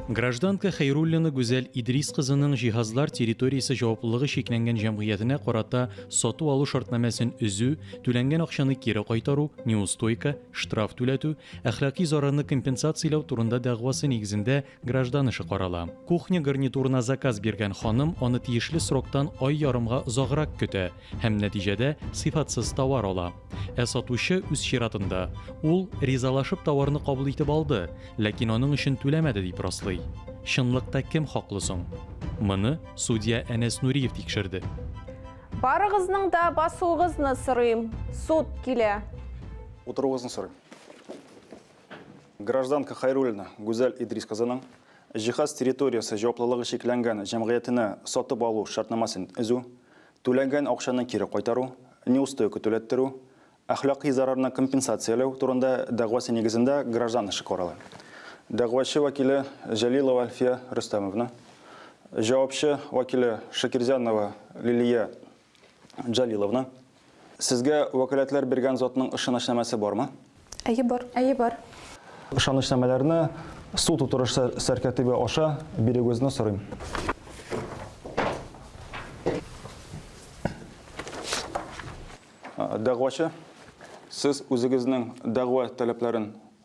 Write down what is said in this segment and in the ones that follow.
Гражданка Хәйруллина Гүзәл Идрис кызының җиһазлар территориясе җаваплылыгы чикләнгән җәмгыятенә карата сату алу шартнамәсен өзү, түләнгән акчаны кире кайтару, неустойка, штраф түләтү, әхлакый зарарны компенсацияләү турында дәгъвасы нигезендә Граждан эше карала. Кухня гарнитурына заказ биргән ханым аны тиешле сроктан ай ярымга озаграк көтә һәм нәтиҗәдә сыйфатсыз товар ала. Ә сатучы, үз чиратында, ул, ризалашып товарны кабул итеп алды, ләкин аның өчен түләмәде дип раслый. Чынлыкта кем хаклы соң? Моны судья Әнәс Нуриев тикшерде. Барыгызның да басуыгызны сорыйм. Суд килә. Утыруыгызны сорыйм. Гражданка Хайруллина Гүзәл Идрис кызының җиһаз территориясе җаваплылыгы чикләнгән җәмгыятенә сатып алу шартнамасын өзү, түләнгән акчаны кире кайтару, неустойка түләттерү, әхлакый зарарны компенсацияләү турында дәгъвасы нигезендә граждан эше карала. Дәгъвачы вәкиле Җәлилова Әлфия Рөстәмовна, җавапчы вәкиле Шакирзянова Лилия Җәлиловна, Сезгә вәкаләтләр биргән затның ышанычнамәсе бармы? Әйе, бар. Әйе, бар. Ышанычнамәләрне суд утырышы сәркәтибе аша бирүегезне сорыйм. Дәгъвачы, сез үзегезнең дәгъва таләпләрен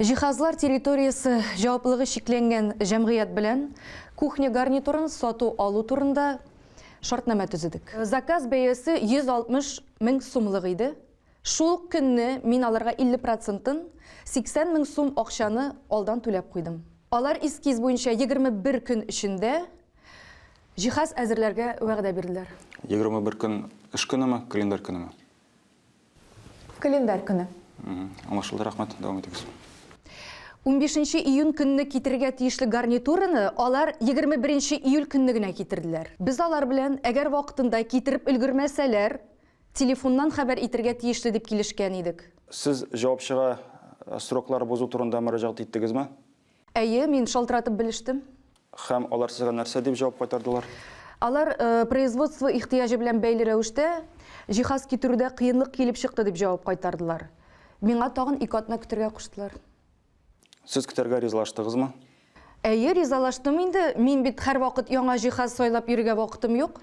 Җиһазлар территориясе җаваплылыгы чикләнгән җәмгыять белән кухня гарнитурын сату-алу турында шартнамә төзедек. Заказ бәясе 160 мең сумлык иде. Шул ук көнне мин аларга 50 процентын, 80 мең сум акчаны алдан түләп куйдым. Алар эскиз буенча 21 көн эчендә җиһаз әзерләргә вәгъдә бирделәр. 21 көн эш көнеме, календарь көнеме? Календарь көне. Аңлашылды, рәхмәт, дәвам итегез. Унбишенче июнь көнне китерергә тиешле гарнитураны алар егерме беренче июль көнне генә китерделәр. Без алар белән, әгәр вакытында китереп өлгермәсәләр, телефоннан хәбәр итергә тиешле дип килешкән идек. Сез җавапчыга сроклар бозу турында мөрәҗәгать иттегезме? Әйе, мин шалтыратып белештем. Һәм алар сезгә нәрсә дип җавап кайтардылар? Алар производство ихтыяҗы белән бәйле рәвештә җиһаз китерүдә кыенлык килеп чыкты дип җавап кайтардылар. Миңа тагын ике атна көтергә куштылар. Сез көтәргә ризалаштыгызмы? Әйе, ризалаштым инде, мин бит һәрвакыт яңа җиһаз сайлап йөрергә вакытым юк.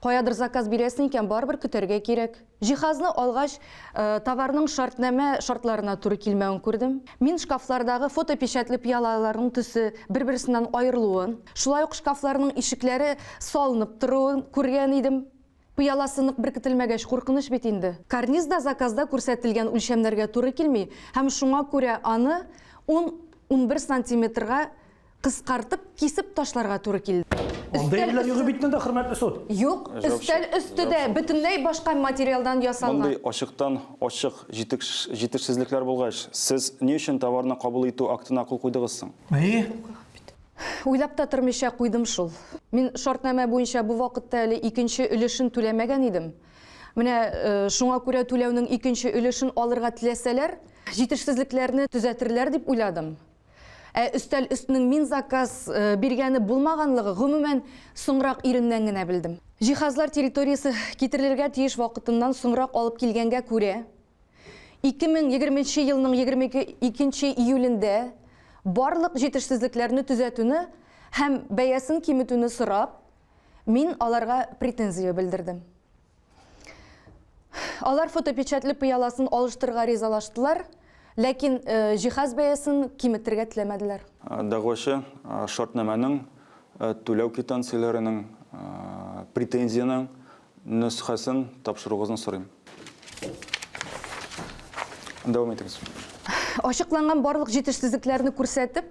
Каядыр заказ бирәсең икән, барыбер көтәргә кирәк. Җиһазны алгач, товарның шартнамә шартларына туры килмәвен күрдем. Мин шкафлардагы фотопечатле пыялаларның төсе бер-берсеннән аерылуын, шулай ук шкафларның ишекләре салынып торуын күргән идем. Пыяласы нык беркетелмәгәч, куркыныч бит инде. Карниз да заказда күрсәтелгән үлчәмнәргә туры килми һәм шуңа күрә аны ун-унбер сантиметрга Кыскартып, кисеп ташларга туры килде. Андый әйберләр юк бит монда, хөрмәтле суд. Юк, өстәл өсте дә бөтенләй башка материалдан ясалган. Мондый ачыктан-ачык җитешсезлекләр булгач, сез ни өчен товарны кабул итү актына кул куйдыгыз соң? Әйе. Уйлап та тормыйча куйдым шул. Мин шартнамә буенча бу вакытта әле икенче өлешен түләмәгән идем. Менә шуңа күрә түләүнең икенче өлешен алырга теләсәләр, җитешсезлекләрне төзәтерләр дип уйладым. Ә өстәл өстенең мин заказ биргәне булмаганлыгы, гомумән, соңрак иреннән генә белдем. Җиһазлар территориясе китерелергә тиеш вакытыннан соңрак алып килгәнгә күрә, 2020 нче елның 22 нче июлендә барлык җитешсезлекләрне төзәтүне һәм бәясен киметүне сорап, мин аларга претензия белдердем. Алар фотопечатле пыяласын алыштырырга ризалаштылар, ләкин җиһаз бәясен киметергә теләмәделәр. Дәгъвачы шартнамәнең, түләү квитанцияләренең, претензиянең нөсхәсен тапшыруыгызны сорыйм. Дәвам итегез. Ачыкланган барлык җитешсезлекләрне күрсәтеп,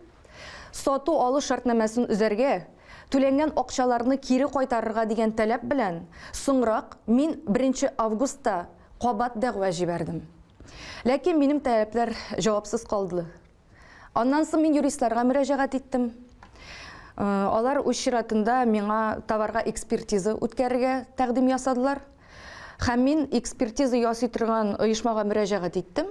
Сату-алу шартнамәсен өзәргә, түләнгән акчаларны кире кайтарырга дигән таләп белән, соңрак мин беренче августта кабат дәгъва җибәрдем. Ләкин минем таләпләр җавапсыз калды. Аннан соң мин юристларга мөрәҗәгать иттем. Алар үз чиратында миңа товарга экспертиза үткәрергә тәкъдим ясадылар. Һәм мин экспертиза ясый торган оешмага мөрәҗәгать иттем.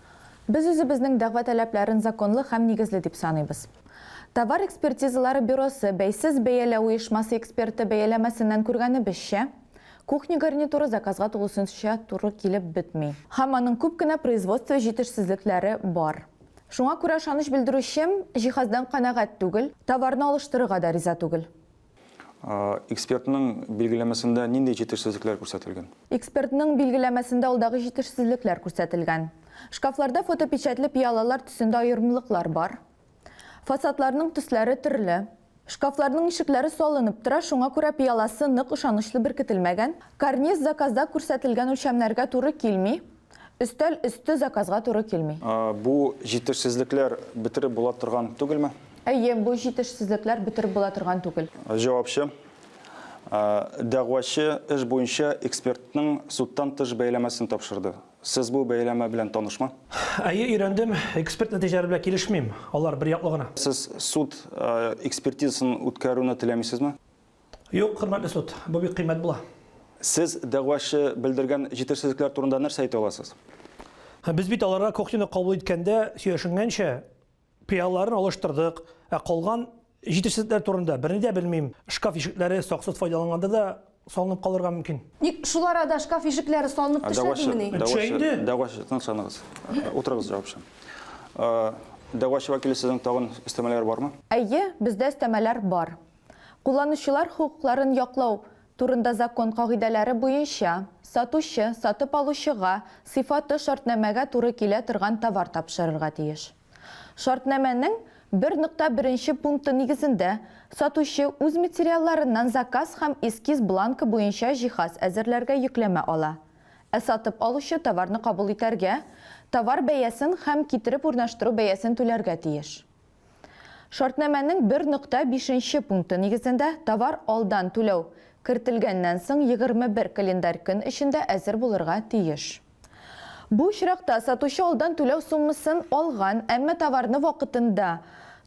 Без үзебезнең дәгъва таләпләрен законлы һәм нигезле дип саныйбыз. Товар экспертизалары бюросы бәйсез бәяләү оешмасы эксперты бәяләмәсеннән күргәнебезчә, кухня гарнитуры заказга тулысынча туры килеп бетми. Һәм аның күп кенә производство җитешсезлекләре бар. Шуңа күрә ышаныч белдерүчем җиһаздан канәгать түгел, товарны алыштырырга да риза түгел. Экспертның билгеләмәсендә нинди җитешсезлекләр күрсәтелгән? Экспертның билгеләмәсендә алдагы җитешсезлекләр күрсәтелгән. Шкафларда фотопечәтле пыялалар төсендә аерымлыклар бар. Фасадларның төсләре төрле. Шкафларның ишекләре салынып тора, шуңа күрә пыяласы нык, ышанычлы беркетелмәгән. Карниз заказда күрсәтелгән үлчәмнәргә туры килми. Өстәл өсте заказга туры килми. Бу җитешсезлекләр бетереп була торган түгелме? Әйе, бу җитешсезлекләр бетереп була торган түгел. Җавапчы. Дәгъвачы эш буенча экспертның судтан тыш бәяләмәсен тапшырды. Сез бу бәяләмә белән танышмы? Әйе, өйрәндем. Эксперт нәтиҗәләре белән килешмим. Алар берьяклы гына. Сез суд экспертизасын үткәрүне теләмисезме? Юк, хөрмәтле суд, бу бик кыйммәт була. Сез дәгъвачы белдергән җитешсезлекләр турында нәрсә әйтә аласыз? Без бит аларга кухняны кабул иткәндә сөйләшенгәнчә, пыялаларын алыштырдык, ә калган җитешсезлекләр турында берни дә белмим. Шкаф ишекләре саксыз файдаланганда да салынып калырга мөмкин. Ник шул арада шкаф ишекләре салынып төшәдемени? Төшә инде. Дәгъвачы, тынычланыгыз. Утырыгыз, җавапчы. Дәгъвачы вәкиле, сезнең тагын өстәмәләр бармы? Әйе, бездә өстәмәләр бар. Кулланучылар хокукларын яклау турында закон кагыйдәләре буенча, сатучы сатып алучыга сыйфаты шартнамәгә туры килә торган товар тапшырырга тиеш. Шартнамәнең бер нокта беренче пункты нигезендә сатучы үз материалларыннан заказ һәм эскиз бланкы буенча җиһаз әзерләргә йөкләмә ала, ә сатып алучы товарны кабул итәргә, товар бәясен һәм китереп урнаштыру бәясен түләргә тиеш. Шартнамәнең 1.5 нче пункты нигезендә товар алдан түләү кертелгәннән соң 21 календарь көн эчендә әзер булырга тиеш. Бу очракта сатучы алдан түләү суммасын алган, әмма товарны вакытында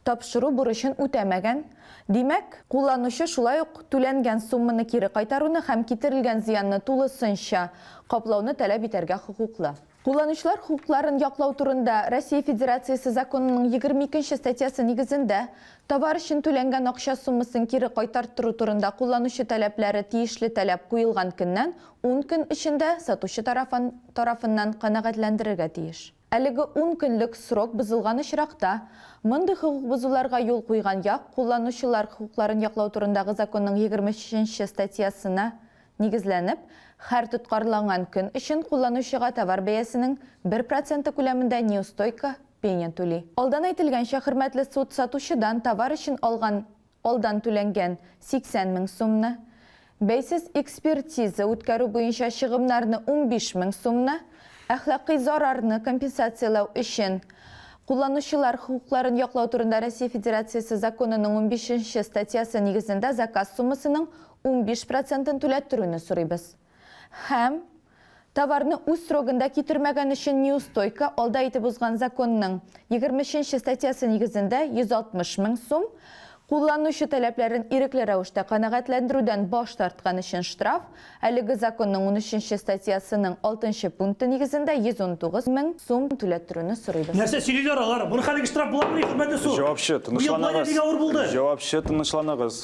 тапшыру бурычын үтәмәгән, димәк, кулланучы шулай ук түләнгән сумманы кире кайтаруны һәм китерелгән зыянны тулысынча каплауны таләп итәргә хокуклы. Кулланучылар хокукларын яклау турында Россия Федерациясе законының егерме икенче статьясы нигезендә товар өчен түләнгән акча суммасын кире кайтарттыру турында кулланучы таләпләре тиешле таләп куелган көннән ун көн эчендә сатучы тарафын тарафыннан канәгатьләндерергә тиеш. Әлеге ун көнлек срок бозылган очракта, мондый хокук бозуларга юл куйган як кулланучылар хокукларын яклау турындагы законның егерме өченче статьясына нигезләнеп, хәр тоткарланган көн өчен кулланучыга товар бәясенең бер проценты күләмендә неустойка, пеня, түли. Алдан әйтелгәнчә, хөрмәтле суд сатучыдан товар өчен алган алдан түләнгән 80 мең сумны, бәйсез экспертиза үткәрү буенча чыгымнарны 15 мең сумны, әхлакый зарарны компенсацияләү өчен Кулланучылар хокукларын яклау турында Россия Федерациясе законының унбишенче статьясы нигезендә заказ суммасының Унбиш процентын түләттерүне сорыйбыз. Һәм, товарны үз срогында китермәгән өчен неустойка, алда итеп узган законның егерме өченче статьясы нигезендә 160 мең сум, кулланучы таләпләрен ирекле рәвештә канәгатьләндерүдән баш тарткан өчен штраф, әлеге законның унөченче статьясының алтынчы пункты нигезендә 119 мең сум түләттерүне сорыйбыз. Нәрсә сөйлиләр алар? Моның хәлеге штраф буламыни, хөрмәтле суд? Җавапчы, тынычланыгыз. Быел бу ай да бик авыр булды. Җавапчы, тынычланыгыз.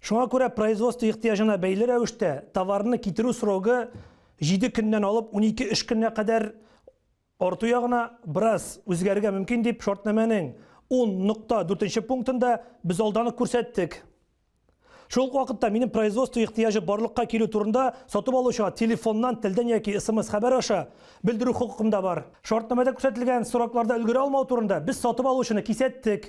Шуңа күрә производство ихтыяҗына бәйле рәвештә товарны китерү срогы 7 көннән алып 12 эш көненә кадәр арту ягына бераз үзгәрергә мөмкин дип шартнамәнең 10.4 пунктында без алдан ук күрсәттек. Шул вакытта минем производство ихтыяҗы барлыкка килү турында сатып алучыга телефоннан, телдән яки смс хәбәр аша белдерү хокукым да бар. Шартнамәдә күрсәтелгән срокларда өлгерә алмау турында без сатып алучыны кисәттек.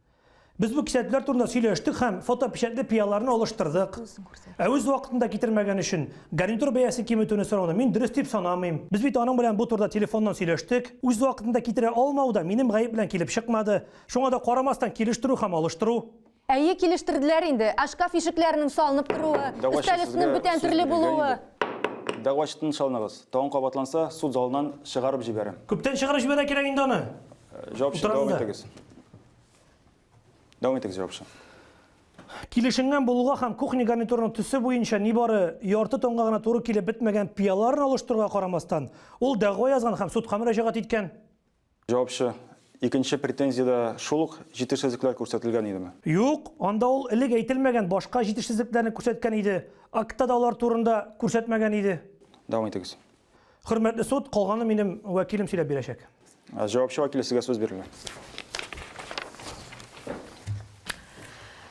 Без бу кисәтүләр турында сөйләштек һәм фотопечәтле пыяларны алыштырдык. Ә үз вакытында китермәгән өчен гарнитур бәясен киметүне сорауны мин дөрес дип санамыйм. Без бит аның белән бу турыда телефоннан сөйләштек. Үз вакытында китерә алмау да минем гаеп белән килеп чыкмады. Шуңа да карамастан килештерү һәм алыштыру. Әйе, килештерделәр инде. Ә шкаф ишекләренең салынып торуы, өстәл өстенең бүтән төрле булуы? Дәгъвачы тынычланыгыз. Тагын кабатланса, суд залыннан чыгарып җибәрәм. Күптән чыгарып җибәрә кирәк инде аны. Җавапчы, дәвам итегез. Дәвам итегез, җавапчы. Килешенгән булуга һәм кухня гарнитурының төсе буенча нибары ярты тонга гына туры килеп бетмәгән пыяларын алыштыруга карамастан, ул дәгъва язган һәм судка мөрәҗәгать иткән. Җавапчы, Икенче претензиядә шул ук җитешсезлекләр күрсәтелгән идеме? Юк, анда ул элек әйтелмәгән башка җитешсезлекләрне күрсәткән иде, актта да алар турында күрсәтмәгән иде. Дәвам итегез. Хөрмәтле суд, калганы минем вәкилем сөйләп бирәчәк. Ә, Җавапчы вәкиле сезгә сүз бирелә.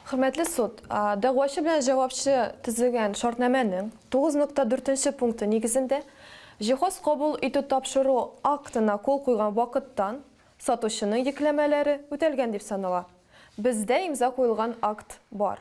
Хөрмәтле суд, а, дәгъвачы белән җавапчы төзегән шартнамәнең 9.4 пункты нигезендә җиһаз кабул итү-тапшыру актына кул куйган вакыттан сатучының йөкләмәләре үтәлгән дип санала. Бездә имза куелган акт бар.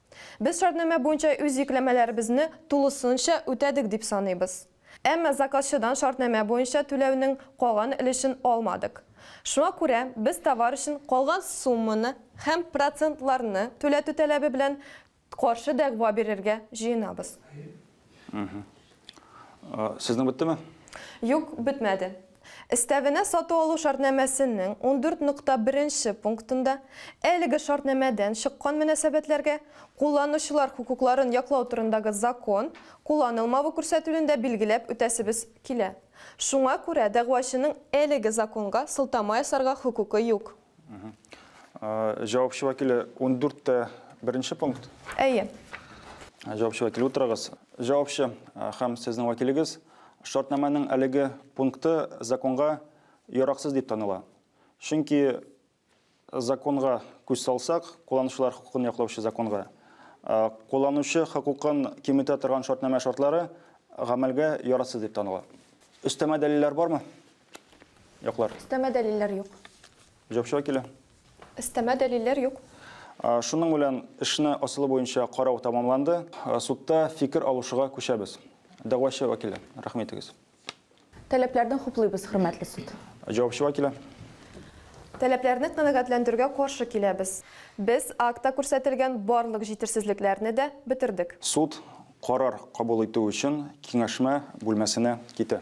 Без шартнамә буенча үз йөкләмәләребезне тулысынча үтәдек дип саныйбыз. Әмма заказчыдан шартнамә буенча түләүнең калган өлешен алмадык. Шуңа күрә без товар өчен калган сумманы һәм процентларны түләтү таләбе белән каршы дәгъва бирергә җыенабыз. Сезнең беттеме? Юк, бетмәде. Өстәвенә сату алу шартнамәсенең 14.1 пунктында әлеге шартнамәдән чыккан мөнәсәбәтләргә Кулланучылар хокукларын яклау турындагы закон кулланылмавы күрсәтүен дә билгеләп үтәсебез килә. Шуңа күрә дәгъвачының әлеге законга сылтама ясарга хокукы юк. Җавапчы вәкиле 14 тә беренче пункт. Әйе. Җавапчы вәкиле утырыгыз. Җавапчы һәм сезнең вәкилегез шартнаманың әлеге пункты законга яраксыз дип таныла. Чөнки законга күз салсак, кулланучылар хокукын яклаучы законга, кулланучы хокукын киметә торган шартнама шартлары гамәлгә ярасыз дип таныла. Өстәмә дәлилләр бармы? Яклар. Өстәмә дәлилләр юк. Җавапчыга килә. Өстәмә дәлилләр юк. Шуның белән эшне асылы буенча карау тәмамланды. Судта фикер алушыга күчәбез. Дәгъвачы вәкиле, рәхим итегез. Таләпләрне хуплыйбыз, хөрмәтле суд. Җавапчы вәкиле. Таләпләрне канәгатьләндерүгә каршы киләбез. Без актта күрсәтелгән барлык җитешсезлекләрне дә бетердек. Суд карар кабул итү өчен киңәшмә бүлмәсенә китә.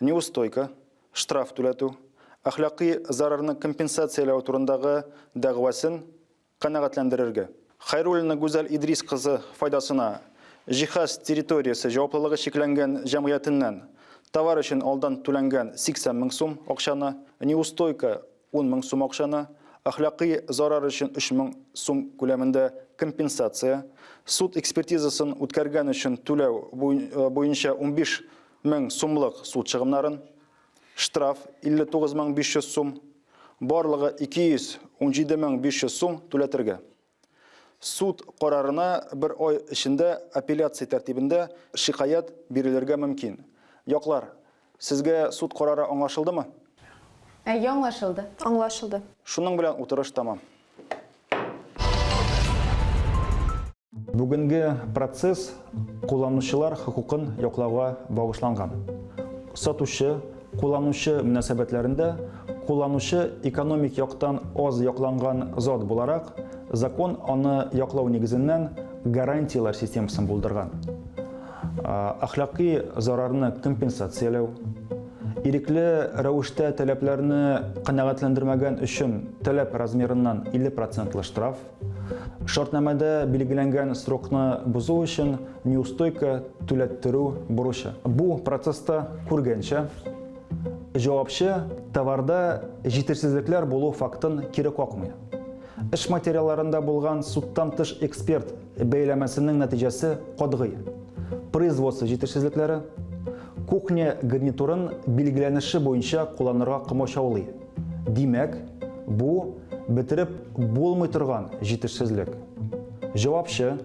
неустойка, штраф түләтү, әхлакый зарарны компенсацияләү турындагы дәгъвасын канәгатьләндерергә. Хәйруллина Гүзәл Идрис кызы файдасына Җиһаз территориясе җаваплылыгы чикләнгән җәмгыятеннән товар өчен алдан түләнгән 80 мең сум акчаны, неустойка, 10 мең сум акчаны, әхлакый зарар өчен 3 мең сум күләмендә компенсация, суд экспертизасын үткәргән өчен түләү буенча унбиш Мең сумлык суд чыгымнарын, штраф 59 мең 500 сум, барлыгы 217 мең 500 сум түләтергә. Суд карарына бер ай эчендә апелляция тәртибендә шикаять бирелергә мөмкин. Яклар, сезгә суд карары аңлашылдымы? Әйе, аңлашылды. Аңлашылды. Шуның белән утырыш тәмам. Бүгенге процесс кулланучылар хокукын яклауга багышланган. Сатучы, кулланучы мөнәсәбәтләрендә кулланучы экономик яктан аз якланган зат буларак, закон аны яклау нигезеннән гарантияләр системасын булдырган. Ахлакый зарарны компенсацияләү, Ирекле рәвештә таләпләрне канәгатьләндермәгән өчен таләп размерыннан 50 процентлы штраф, шартнамәдә билгеләнгән срокны бозу өчен неустойка түләттерү бурычы. Бу процесста күргәнчә, җавапчы товарда җитешсезлекләр булу фактын кире какмый. Эш материалларында булган судтан тыш эксперт Бәйләмәсенең нәтиҗәсе катгый. Производство җитешсезлекләре, кухня гарнитурын билгеләнеше буенча кулланырга комачаулый. Димәк, бу, бетереп булмый торган җитешсезлек. Җавапчы,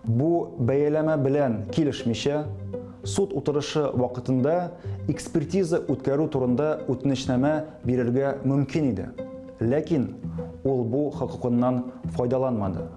бу бәяләмә белән килешмичә, суд утырышы вакытында экспертиза үткәрү турында үтенечнамә бирергә мөмкин иде, ләкин ул бу хокукыннан файдаланмады.